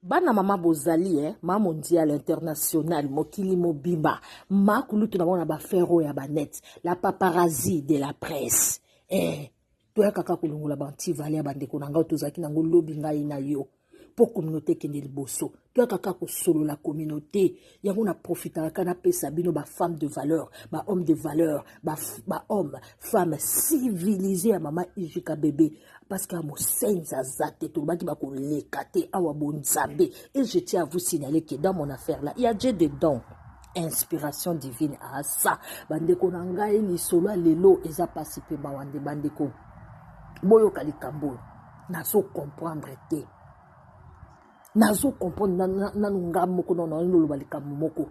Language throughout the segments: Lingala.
Bana mama bozali eh, ma mondial international mokili mobimba ma kulutu na bango na bafero ya banete la paparazi de la presse eh, toyakaka kolongola bantivale ya bandeko na ngai tozalaki nango lobi ngai na yo mpo communauté ekende liboso toyaka kaka kosolola communauté yango na profitaka ka napesa bino bafemme de valeur bahomme de valeur bahomme ba femme civilise ya mama ijika bebe parce que mosenzi aza te tolobaki bakoleka te awa bonzambe et je tiens à vous signaler que dans mon affaire là ya je dedans inspiration divine asa bandeko na ngai lisolo ya lelo eza mpasi mpe mawa nde bandeko boyoka likambo oyo nazo comprendre te nazo comprendre nanu na, na, na, nga moko nano naoloba likambo moko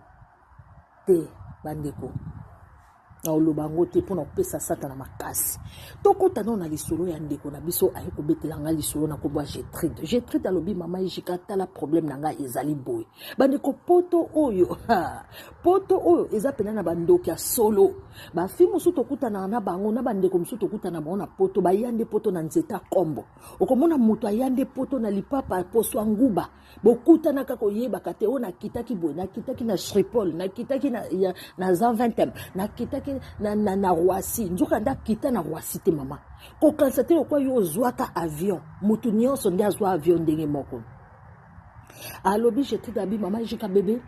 te bandeko naoloba yango te mpo na kopesa satana makasi tokota nao na lisolo ya ndeko na biso aye kobetela ngai lisolo na nkombo ya getride getride alobi mama ejika tala probleme na ngai ezali boye bandeko poto oyo poto oyo eza mpena na bandoki ya solo bafi mosusu tokutanaka na bango na bandeko mosusu tokutana bango na poto baya nde poto na nzete ya nkombo okomona moto aya nde poto na lipapa poso ya nguba bokutanaka koyebaka te oyo nakitaki boye nakitaki na shripol nakitaki na, ya, na zanventem nakitaki na, na, na roisi nzoka nde akita na roisi te mama kokanisa te lokwa yo ozwaka avion moto nyonso nde azwa avion ndenge moko alobi jetikabi mama jika bebe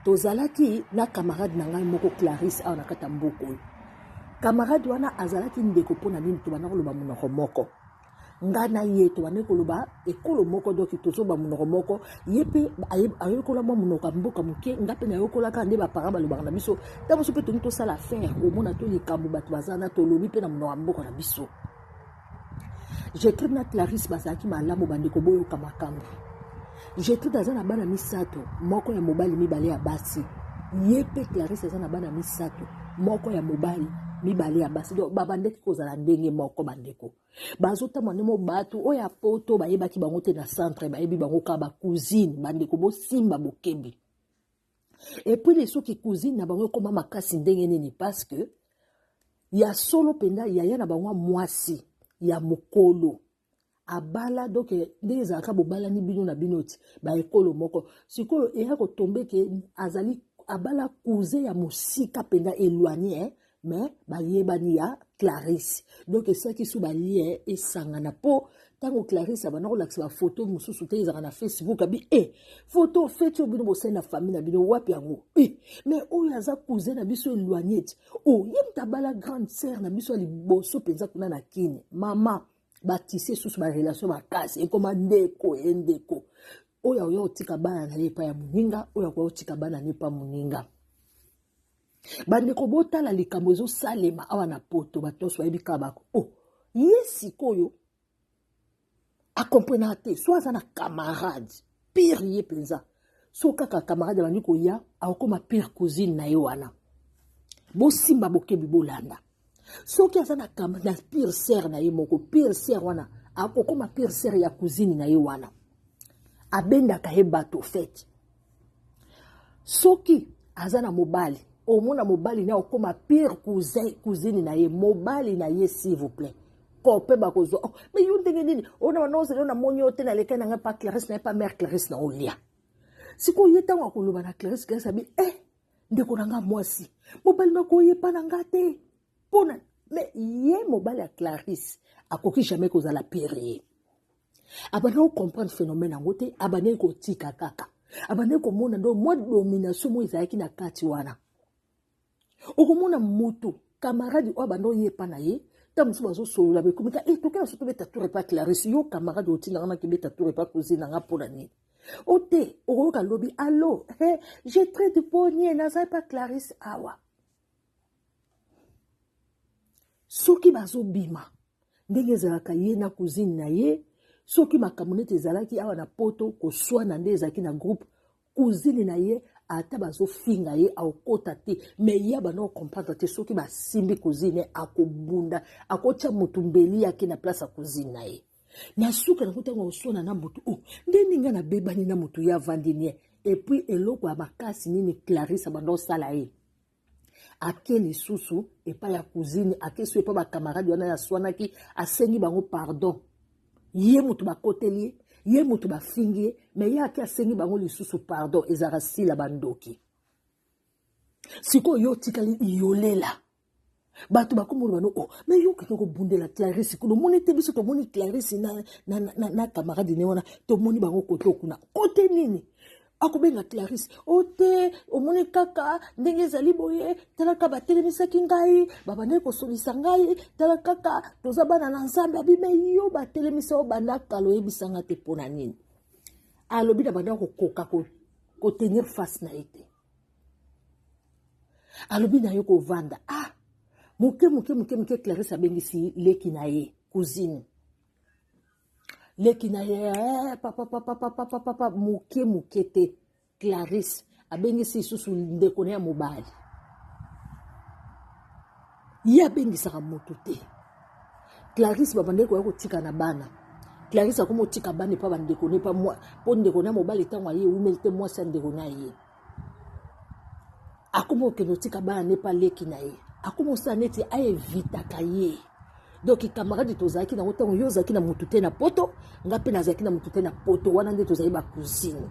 tozalaki na camarade na ngai moko clarisse awa na kati ya mboka oyo Camarade wana azalaki ndeko mpo na nini tobanda koloba monoko moko nga na ye tobandaki koloba ekolo moko doki tozoba monoko moko ye mpe ayokola mwa monoko ya mboka moke nga mpe nayokolaka nde baparent balobaka na biso ntango mosusu mpe tolingi tosala affaire omona to likambo bato baza na tolobi mpe na monoko ya mboka na biso Gertrude na Clarisse bazalaki malamu bandeko boyoka makambo. Gertrude aza na bana misato, moko ya mobali mibale ya basi. Ye mpe Clarisse aza na bana misato, moko ya mobali mibale ya basi donc babandaki kozala ndenge moko bandeko bazotambola nde mo bato oyo ya poto bayebaki bango te na centre bayebi bango kaka bacousine bandeko bosimba bokebi et puis les soki cousine na bango ekoma makasi ndenge nini parce que ya solo mpenza yaya na bango mwasi ya mokolo abala donc ndenge ezalaka bobalani bino na bino ti baekolo moko sikoyo eya kotombe ke azali abala cousin ya mosika mpenza éloigne eh? mais bayebani ya clarisse donc esalaki so balien esangana mpo ntango clarisse abanda kolakisa bafoto mosusu te ezalaka na facebook abi e foto feti oyo bino bosali na famille na bino wapi yango e mais oyo aza cousin na biso eloignete o oh, ye moto abala grande sere na biso ya liboso mpenza kuna na kini mama batise susu barelation makasi ekoma ndeko ye ndeko oyo akoya kotika bana na ye epai ya moninga oyo akoya kotika bana na ye epai ya moninga bandeko botala likambo ezosalema awa na poto bato nyonso bayebi kaka bako o oh, ye sikoyo akomprenaka te so aza na camarade pire ye mpenza so kaka camarade abandi koya akokoma pire cousine na ye wana bosimba bokebi bolanda soki aza na kam na pire sere na ye moko pire sere wana akokoma pire sere ya cousine na ye wana abendaka ye bato fete soki aza na mobali omona mobali na okoma pire cousin cousine na ye mobali na ye s'il vous plaît kope bakozwa oh, me yo ndenge nini ona wana ozali ona moni yo te na leka na ngai pa clarisse na ye pa mare clarisse na olia sikoyo ye ntango akoloba na clarisse clarisse abi eh ndeko na nga mwasi mobali moko oyepa na nga te mpo na me ye mobali ya clarisse akoki jamais kozala pire ye abandaki kocomprendre phénomène yango te abandaki kotika kaka abandaki komona ndo mwa domination moko ezalaki na kati wana okomona motu kamaradi oyo abanda oyepa na ye ntango mosusu bazosolola bekomika e eh, tokenda so tobeta tour epa clarisse yo kamaradi otinanga nakibeta tour epa kozina nga mpo na nini o te okoyoka lobi allo he je trai du ponie naza epa clarisse awa soki bazobima ndenge ezalaka ye na cousine na ye soki makambo neti ezalaki awa na poto koswana nde ezalaki na groupe cousine na ye ata bazofinga ye akokota te me ye abanda kocomprendre te soki basimbi cousine akobunda akotya motu mbeli yake na place ya cousine na ye na suka nango ntango oswana na motu o oh, nde ndenge nabebani na motu ye avandi nie epuis eloko ya makasi nini clarisse abanda osala ye ake lisusu epai ya cousine ake so epai bacamarade wana yaswanaki asengi bango pardon ye motu bakoteli ye ye motu bafingi ye me ye ake asengi bango lisusu pardon ezalaka sila bandoki sikoyo yo otikali iyolela bato bakomona bano o oh, me yo okende kobundela clarisse kuna omoni te biso tomoni clarisse na, na, na, na camarade ne wana tomoni bango kote okuna kote nini akobenga clarisse o oh, te omoni kaka ndenge ezali boye tala kaka batelemisaki ngai babandaki kosolisa ngai tala kaka toza bana na nzambe abime yo batelemisa yo banda kala oyebisanga te mpo na nini alobi na banda kokoka kotenir face na ye te alobi na yo kovanda ah moke moke moke moke clarisse abengisi leki na ye cousine leki na ye eh, papa papa papa papa papa moke moke te clarisse abengisi lisusu ndeko na ya mobali ye abengisaka moto te clarisse babandaki koya kotika na bana clarisse akomi otika bana epa bandeko ne pa mpo ndeko na mobali ntango aye ewumeli te mwasi ya ndeko na ye akomi okende otika bana ne pa leki na ye akomi osala neti aevitaka ye donc camarade tozalaki nango ntango yo ozalaki na motu te na poto ngai mpe nazalaki na motu te na poto wana nde tozali bacousine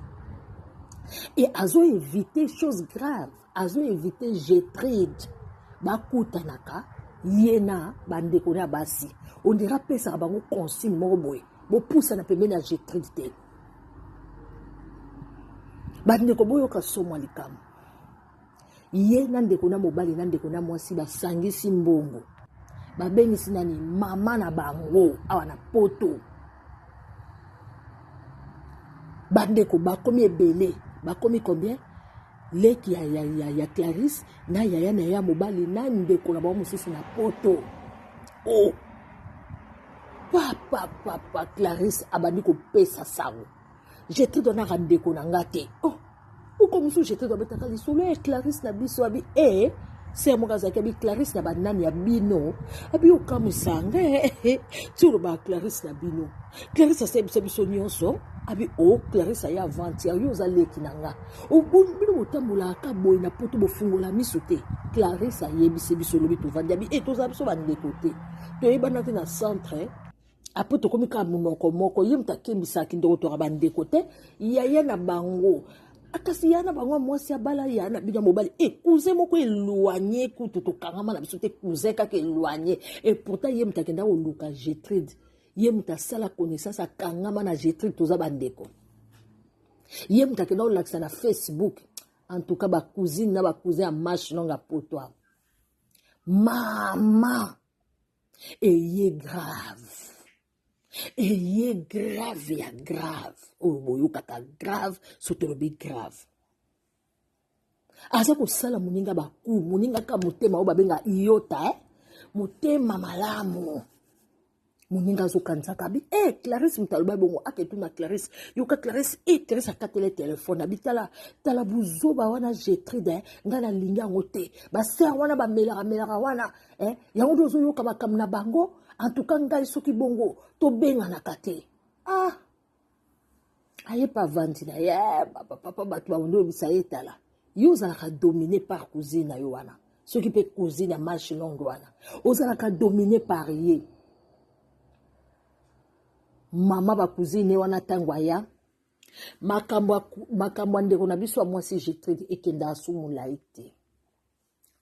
e azoevite chose grave azo invite Getride bakutanaka ye na bandeko na basi ondire apesaka bango consigne moko boye bopusana pembeni ya Getride te bandeko boyoka somwa likambo ye na ndeko na mobali na ndeko na mwasi basangisi mbongo babengisi nani mama na bango awa na poto bandeko bakomi ebele bakomi combien leki ya, ya, ya, ya clarisse na yaya na ye ya mobali na ndeko na bango mosusu na poto o oh. papapapa clarisse abandi kopesa sango je te donnaka ndeko na nga te o oh. uko mosusu je te dobetaka lisolo ya clarisse na biso abi e eh. ser moko azalaki abi clarisse na banani ya bino abi okamwisa nga eh, eh, ti olobaka clarisse na bino clarisse asebisa biso nyonso abi o oh, clarisse aye avantier yo oza leki na nga bino botambolaka ka boye na poto bofungola miso te clarisse ayebisi biso lobi tovandi abi e eh, tozala biso bandeko te toyebana te na centre apres tokomi kaka monoko moko ye moto akembisaki ndeko toka bandeko te yaya na bango ah, kasi ya na bango mwasi abala ya na bino mobali e eh, cousin moko eloigne kutu tokangama na biso te cousin kaka eloigne e pourtant ye moto akenda koluka getride ye moto asala connaissance akangama na getride toza bandeko ye moto akenda kolakisa na facebook en tout cas bacousine na bacousin ya mashe nonga poto awa mama eye grave eye grave ya grave oyo boyokaka grave so tolobi grave aza kosala moninga baku moninga kaka motema oyo babenga iota eh? motema malamu moninga azokanisaka bi e eh, clarisse moto aloba bongo aketuna clarisse yoka clarisse e eh, clarisse akatele telefone abi tala tala buzoba wana getride eh? ngai nalingi yango te basere wana bamelaka melaka wana eh? yango nde ozoyoka makambo na bango en tout cas ngai soki bongo tobenganaka te ah aye pa avandi na ye eh, papa bato baolobisa ye tala yo ozalaka domine par cousine na yo wana soki mpe cousine ya marche longue wana ozalaka domine par ye mama bacousine wana ntango aya makambo ya ndeko na biso ya mwasi getride ekendaka so molai te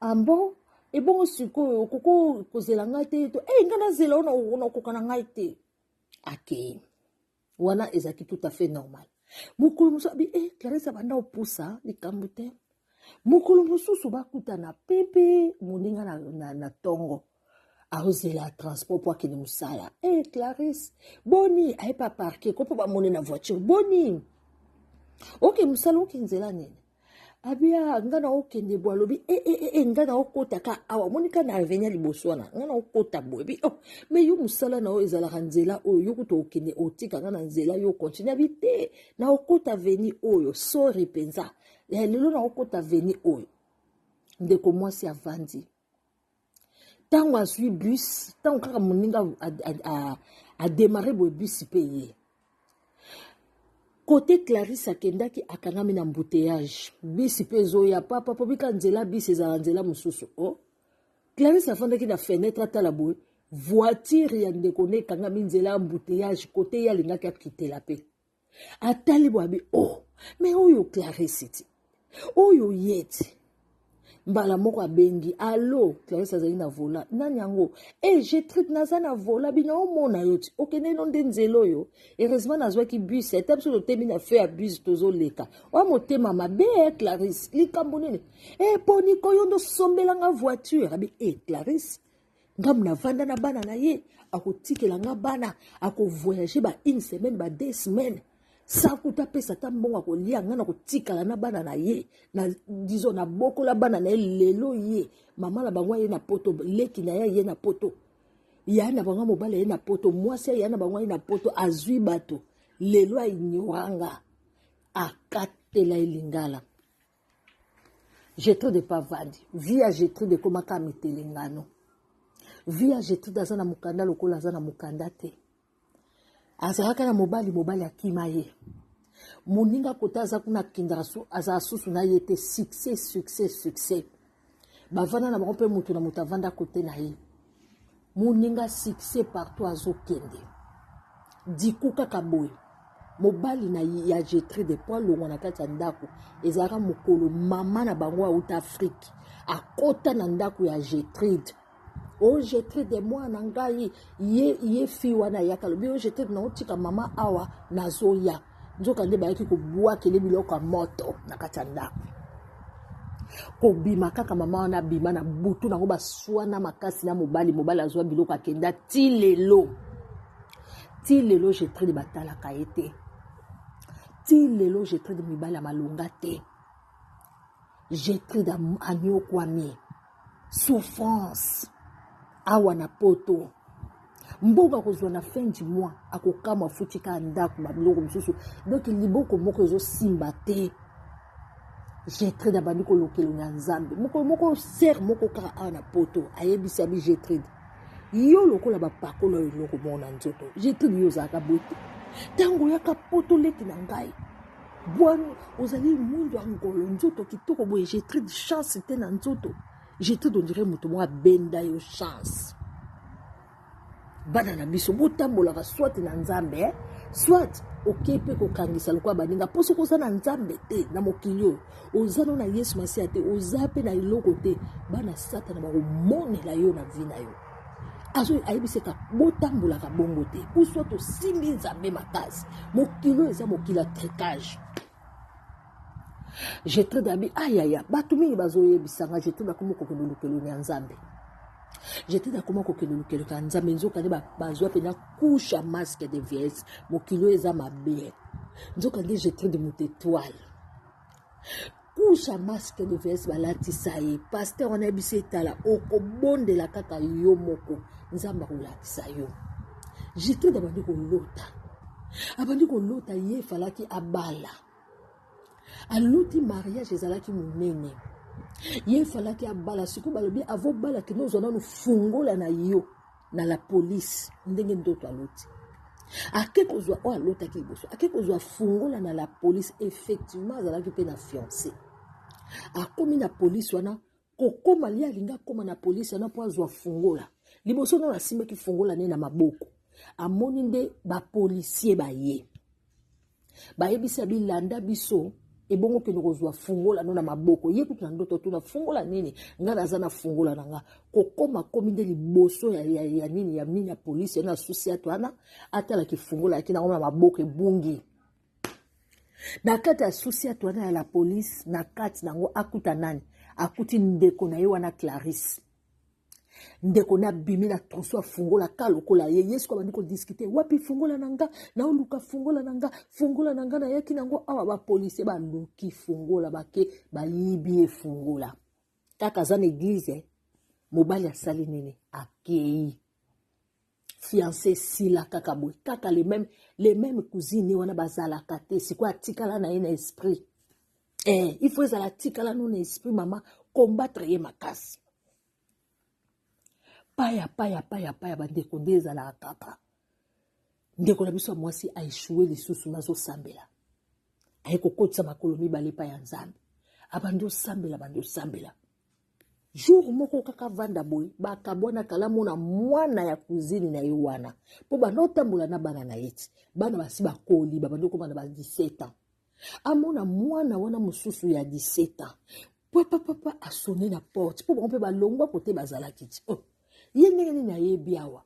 ambon ah ebongo sikoyo okoko kozela ngai te to e eh, ngai nazela ona okoka na ngai te akei wana ezalaki tout à fait normal mokolo mosusu abi e clarisse abanda opusa likambo te mokolo mosusu bakutana pepe moninga na, na, na tongo aozela transport mpo akende mosala e eh, hey, clarisse boni ayepa parke ko mpo bamone na voiture boni oke mosala oke nzela nini abia ah, nga na okende bo alobi e eh, e eh, e e nga na okota ka awa omoni ka na avenia liboso wana nga na okota boye bi oh me yo mosala na yo ezalaka nzela oyo yo kuta okende otika nga na nzela yo okontinue abi te na okota veni oyo sori mpenza lelo na okota veni oyo ndeko mwasi avandi ntango azwi bus ntango kaka moninga ademare boye bus mpe ye kote clarisse akendaki akangami na mbuteyage bus mpe ezoya papa mpo bika nzela bus ezala nzela mosusu o oh. clarisse afandaki na fenetre atala boye voitire ya ndeko ne ekangami nzela ya mbuteyage kote ye alingaki akitela mpe atali bwa bi o oh, me oyo clarisse ti oyo ye ti mbala moko abengi alo clarisse azali na vola nani yango e eh, getride naza na vola bino omona yo ti okende no nde nzela oyo heureusement nazwaki bus ata biso totemi na feu ya bus tozoleka oa motema mabe eh, clarisse likambo nini e eh, mpo nikoyo ndosombelanga voiture abi e clarisse nga navanda na bana na ye akotikela nga bana akovoyage ba une semaine ba deux semaines sakuta apesa ata mbongo akolia nga nakotikala na bana na ye na dizo nabokola bana na ye lelo ye mama na bango aye na poto leki na ye aye na poto ya na bango mobali aye na poto mwasi aya na bango aye na poto azwi bato lelo ainyoranga akatela elingala Getrude epa vandi vie ya Getrude ekoma kaka mitelengano vie ya Getrude aza na mokanda lokola aza na mokanda te azalaka na mobali mobali akima ye moninga kota aza kuna akendaka azala susu na ye te succès succès succès bavanda na bango mpe moto na moto avanda kote na ye moninga succès partout azokende diku kaka boye mobali na ye ya jetri de po alongwa na kati ya ndako ezalaka mokolo mama na bango auta afrike akota na ndako ya jetride ojete de mwana ngai ye ye fi wana ayaka lobi ojete na otika mama awa nazoya nzoka nde bayaki kobwakele biloko ya moto na kati ya ndako kobima kaka mama wana abima na butu nango baswana makasi na mobali mobali azwa biloko akenda ti lelo ti lelo jetride batalaka ye te ti lelo jetride mibali ya malonga te jetride anyokwami souffrance awa na poto mbongo akozwa na fin du mois akokamwa afuti kaka ndako babiloko mosusu donk liboko moko ezosimba te jetride abandi kolokelo na nzambe mokolo moko sere moko kaka awa na poto ayebisi abi jetride yo lokola bapakolo oyo eloko moko na nzoto jetride yo ozalaka boye te ntango oyaka poto leki na ngai Bwana ozali mwindu ya ngolo nzoto kitoko boye Gertrude chance te na nzoto Gertrude on dirait moto moko abenda yo chance bana na biso botambolaka soit na nzambe eh? soit okei mpe kokangisa lokola baninga mpo soki oza na nzambe te na mokili oyo oza no na yesu masiya te oza mpe na eloko te bana satana bakomonela yo na vi na yo azo ayebisa ete botambolaka bongo te uswa tosimbi nzambe makasi mokili oyo eza mokili ya tricage jetro dabi ayaya ah, bato mingi bazoyebisa nga jetro nakomi kokende olukeloni ya nzambe jetro nakoma kokende olukeloni ya nzambe nzokande bazwa mpena couche ya masque de vies mokili oyo eza mabe nzokande jetro de moto etoile couche ya masque de vs balatisa ye paster wana yebisi etala okobondela kaka yo moko nzambe akolakisa yo jitude abandi kolota abandi kolota ye efalaki abala aloti mariage ezalaki monene ye efalaki abala sikoyo balobi avobala kende ozwa nanu fungola na yo na la police ndenge ndoto aloti ake kozwa oyo alotaki liboso ake kozwa fungola na la police effectivement azalaki mpe na fiance akomi na polise wana kokoma ye alingi akoma na polise wana mpo azwa fungola liboso nano asimbaki fungola ne na maboko amoni nde bapolisie baye bayebisi ya bilanda biso ebongo kende kozwa fungola no na maboko ye kutu na ndoto tuna fungola nini ngai naza na fungola na nga kokoma komi nde liboso ya, ya, ya nini ya mini ya polisi yana susi atu wana atalaki fungola yaki nango na maboko ebungi na kati ya susi atu wana ya la polisi na kati nango akuta nani akuti ndeko na ye wana clarisse ndeko na bimi na troso afungola ka lokola ye yesu ko abandi kodiskute wapi fungola na nga naoluka fungola na nga fungola na nga nayaki nango awa bapolisie baluki fungola bake bayibi ye fungola kaka aza na eglize mobali asali nini akei fiance esila kaka boye kaka le meme le meme cousine wana bazalaka te sikoyo atikala na ye na esprit eh, il faut ezala atikala no na esprit mama combattre ye makasi paya paya paya paya bandeko nde ezalaka kaka ndeko na biso ya mwasi aeshoue lisusu nazosambela aye kokotisa makolo mibale epai ya nzambe abandi osambela bandi osambela jour moko kaka vanda boye bakabwana kala mona mwana ya cousine na ye wana mpo banda otambola na bana na ye ti bana basi bakoli babandi okoma na ba 17 ans amona mwana wana mosusu ya 17 ans papa papa asone na porte mpo bango mpe balongwa kote bazalaki ti oh. ye ndenge nini ayebi awa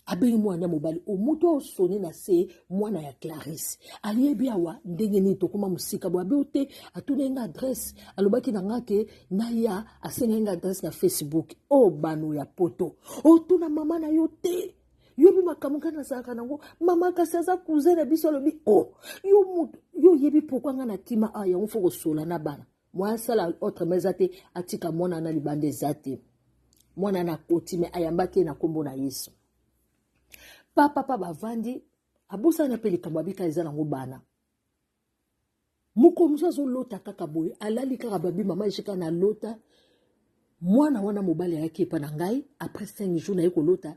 abengi mwana ya mobali o moto oyo soni na se mwana ya clarisse ayebi awa ndenge nini tokoma mosika boye abeyo te atunaki nga adresse alobaki na nga ke naya asengaki nga adresse na facebook o oh, bano ya poto otuna oh, mama na yo te yobi makambo ngai nazalaka nango mama kasi aza cousin na biso alobi o oh, yo moto yo oyebi pourkui ngai na kima a ah, yango fo kosola na bana moyen asala autrement eza te atika mwana na libanda eza te mwana na koti me ayambaki ye na nkombo na yesu pa papa bavandi abosana mpe likambo abika eza nango bana moko mosusu azolota kaka boye alali kaka babi mama ejika na lota mwana wana mobali ayaki epa na ngai après 5 jours naye kolota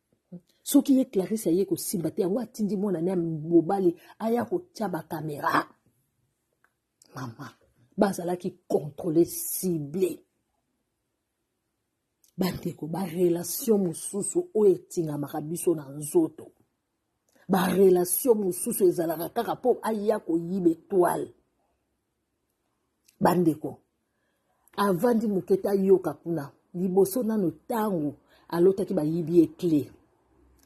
soki ye clarisse aye kosimba te yango atindi mwana ne mobali aya kotya bakamera mama bazalaki controle cible bandeko barelation mosusu oyo etingamaka biso na nzoto barelation mosusu ezalaka kaka mpo aya koyiba etoile bandeko avandi moke te ayoka kuna liboso nano ntango alotaki bayibi ye cle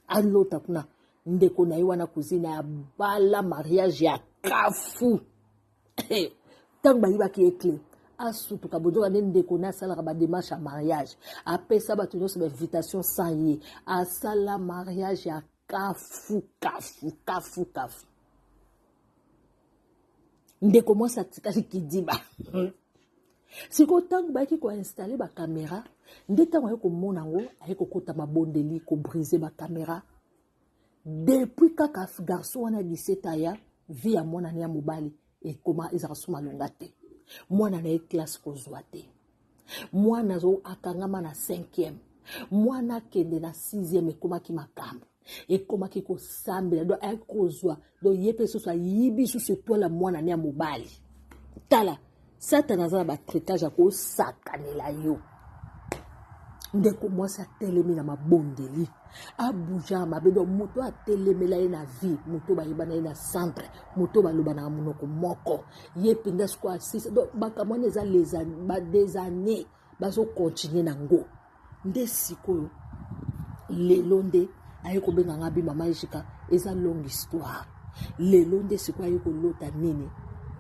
alota kuna ndeko na ye wana kuzina ya bala mariage ya kafu ntango bayibaki ye cle asutuka bozoka nde ndeko na asalaka bademarche ya mariage apesa bato nyonso bainvitation sans ye asala mariage ya kafu kafu kafu kafu ndeko mwasi atikali kidiba sikoyo ntango bayaki koinstale bakamera nde ntango ayaki komona yango ayaki kokota mabondeli kobrise bakamera depuis kaka garçon wana ya 17 aya vi ya mwana ne ya mobali ekoma ezalaka so malonga te mwana na ye classe kozwa te mwana akangama na 5e mwana akende na 6e ekomaki makambo ekomaki kosambela do ayaki kozwa do ye mpe lisusu ayibi lisusu etwale ya mwana ne ya mobali tala satana aza na batritage ya kosakanela yo ndeko mwasi atelemi na mabondeli abuja mabe do moto atelemela ye na vie moto bayebana ye na centre moto balobanaka monoko moko ye mpenza sikoyo asisa do makambo wana eza des années bazokontinue na ngo nde sikoyo lelo nde aye kobenga nga bi mama ejika eza longue histoire lelo nde sikoyo aye kolota nini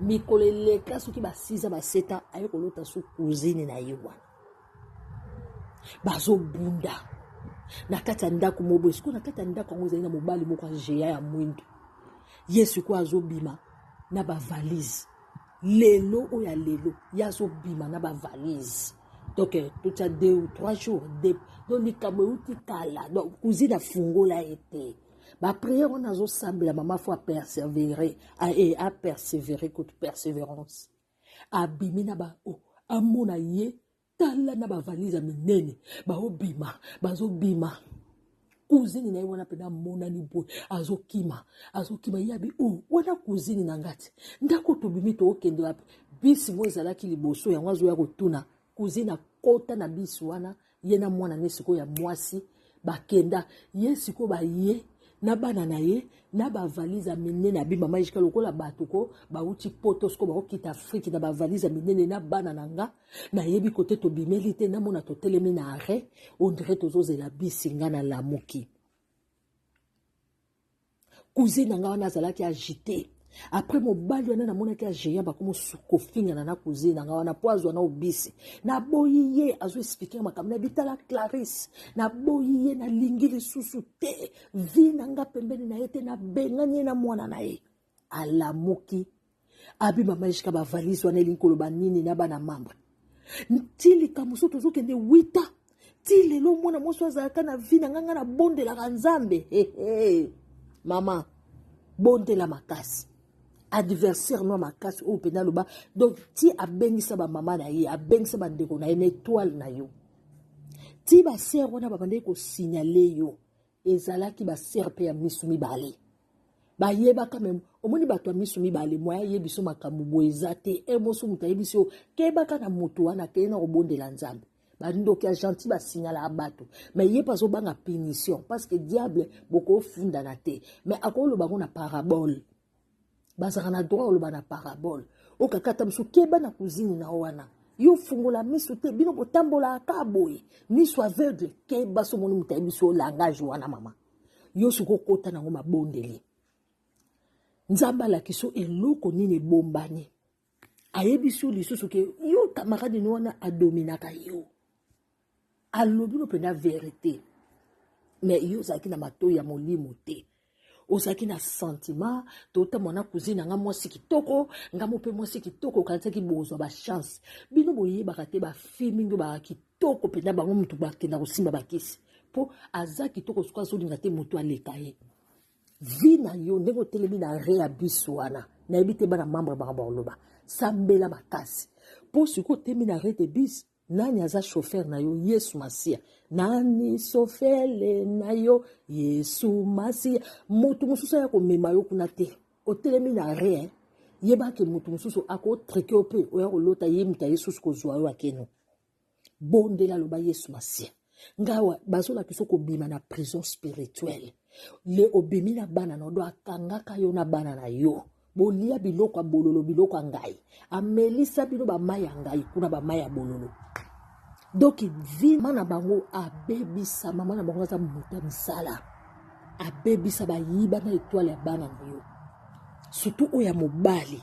mikolo eleka soki basiza baseta aye kolota so cousine na ye wana bazobunda na kati ya ndako moboye sikoyo na kati ya ndako yango ezali na mobali moko agea ya mwindu ye sikoyo azobima na bavalise lelo oyo ya lelo ye azobima na bavalise donc euh, totya deux ou trois jours de donc likambo euti kala donc cousine afungola ye te bapriere wana azosambela mama fo apersévere e apersévere kutu persévérance abimi na ba oh, amona ye tala na bavalise ya minene baobima bazobima kuzini na ye wana mpe namonani boye azokima azokima yabi o oh, wana kuzini na ngati ndako tobimi tookende wapi bisi mo ezalaki liboso yango azoya kotuna kuzini akota na bisi wana ye na mwana ne sikoyo ya mwasi bakenda ye sikoyo baye na bana na ye na bavalise ya minene abi mama ejika lokola bato ko bauti poto sikoyo bakokita afrike na bavalise ya minene na bana na nga nayebi kote tobimeli te namona totelemi na arret ondire tozozela bisi nga na lamuki cousine na nga wana azalaki agite apres mobali wana namonaki agéant bakomi kofingana na cousine na nga wana mpo azwa na obisi naboyi ye azo explike nga makambo na bitala clarisse naboyi ye nalingi lisusu te vi na nga pembeni na ye te nabengani ye na mwana na ye alamuki abi mama ejika bavalise wana elingi koloba nini na bana mambre ti likambo so tozokende wita ti lelo mwana mwasi azalaka na vi na ngai ngai nabondelaka nzambe hehe mama bondela makasi adversaire no makasi oyo mpenza aloba donc ti abengisa bamama na ye abengisa bandeko na ye na etoile na yo ti basere wana babandaki kosignale yo ezalaki ba serpe ya misu mibale bayebaka meme omoni bato ya miso mibale moya ye biso makambo boye eza te e moso moto ayebi so kebaka na moto wana akei na kobondela nzambe bandoki ya gentil basignalaka bato mai ye mpe azobanga punition parce que diable bokofundana te mai akoloba yango na parabole bazalaka na droit ya koloba na parabole okakata biso keba na kuzini na wana yo fungola miso te bino botambolaka kaka boye miso aveugle keba so omoni moto ayebi so langage wana mama yo soki okota nango mabondeli nzambe alakisa eloko nini ebombani ayebisi yo lisusu ke yo camarade no wana adominaka yo alobi no mpenza verite me yo ozalaki na matoi ya molimo te ozalaki na sentiment tota mwana cousine nanga mwasi kitoko nga mo mpe mwasi kitoko okanisaki bozwa bachance bino boyebaka te bafille mingi oyo baka kitoko mpenza bango motu bakenda kosimba bakisi mpo aza kitoko soki azolinga te motu aleka ye vie na yo ndenge otelemi na reabus wana nayebi te bana membre baka bakoloba sambela makasi mpo sikoyo otelemi na redebus nani aza shofer na yo yesu masiya nani sofele na yo yesu masiya moto mosusu aya komema yo kuna te otelemi na rien yebaki moto mosusu akotrike yo mpe oya kolota ye moto ayesusu kozwa yo akeno bondela loba yesu masiya ngawa bazolakisa okobima na prison spirituelle le obimi na bana na odo akangaka yo na bana na yo bolia biloko ya bololo biloko ya ngai amelisa bino bamai ya ngai kuna bamai ya bololo donk vi mama na bango abebisa mama na bango aza moto ya misala abebisa bayiba na etwale ya bana na yo surtout oyo ya mobali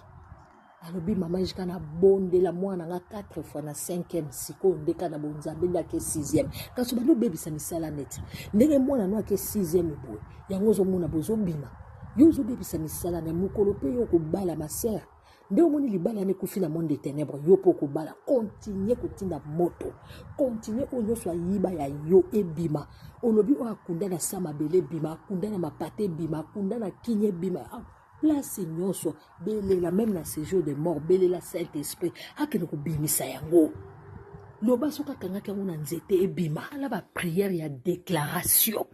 alobi mama jika nabondela mwana nga 4 fois na 5e sikoyo nde ka na bonzambe nde ake 6e kasi obandi obebisa misala neti ndenge mwana no ake 6e boye yango ozomona bozobima yo ozobebisa misala na mokolo mpe yo okobala masere nde omoni libala na ekufi na monde de ténèbre yo mpo okobala kontinue kotinda moto kontinue oyo nyonso ayiba ya yo ebima olobi oyo akunda na sa mabele ebima akunda na mapata ebima akunda na kinya ebima place nyonso belela meme na séjour de mort belela saint esprit akende kobimisa yango loba soki akangaki yango na nzete ebima ala bapriere ya déclaration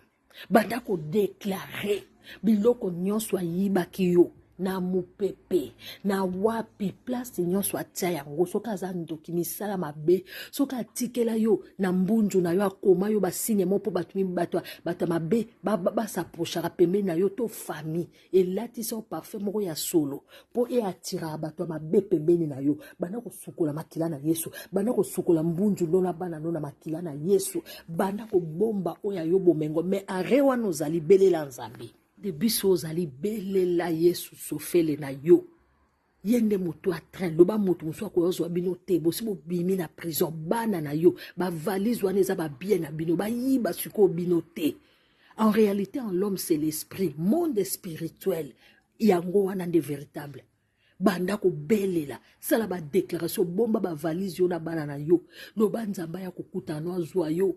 banda kodeklare biloko nyonso ayibaki yo na mopepe na wapi place nyonso atya yango soki aza ndoki misala mabe soki atikela yo na mbunzu na yo akoma yo basigne mo mpo bato bato ya mabe basaprochaka pembeni na yo to famille elatisa yo parfum moko ya solo mpo eatiraka bato ya mabe pembeni na yo banda kosukola makila na yesu banda kosukola mbunzu no na bana no na makila na yesu banda kobomba oyo ya yo bomengo me are wana ozali belela nzambe de biso ozali belela yesu sofele na yo ye nde motu ya train loba motu mosusu akoya ozwa bino te bosi bobimi na prison bana na yo bavalise wana eza babie na bino bayiba sikoyo bino te en réalité en l'homme c'est l'esprit monde spirituel yango wana nde véritable banda kobelela sala badéclaration bomba bavalise yo na bana na yo loba nzambe ya kokutana azwa yo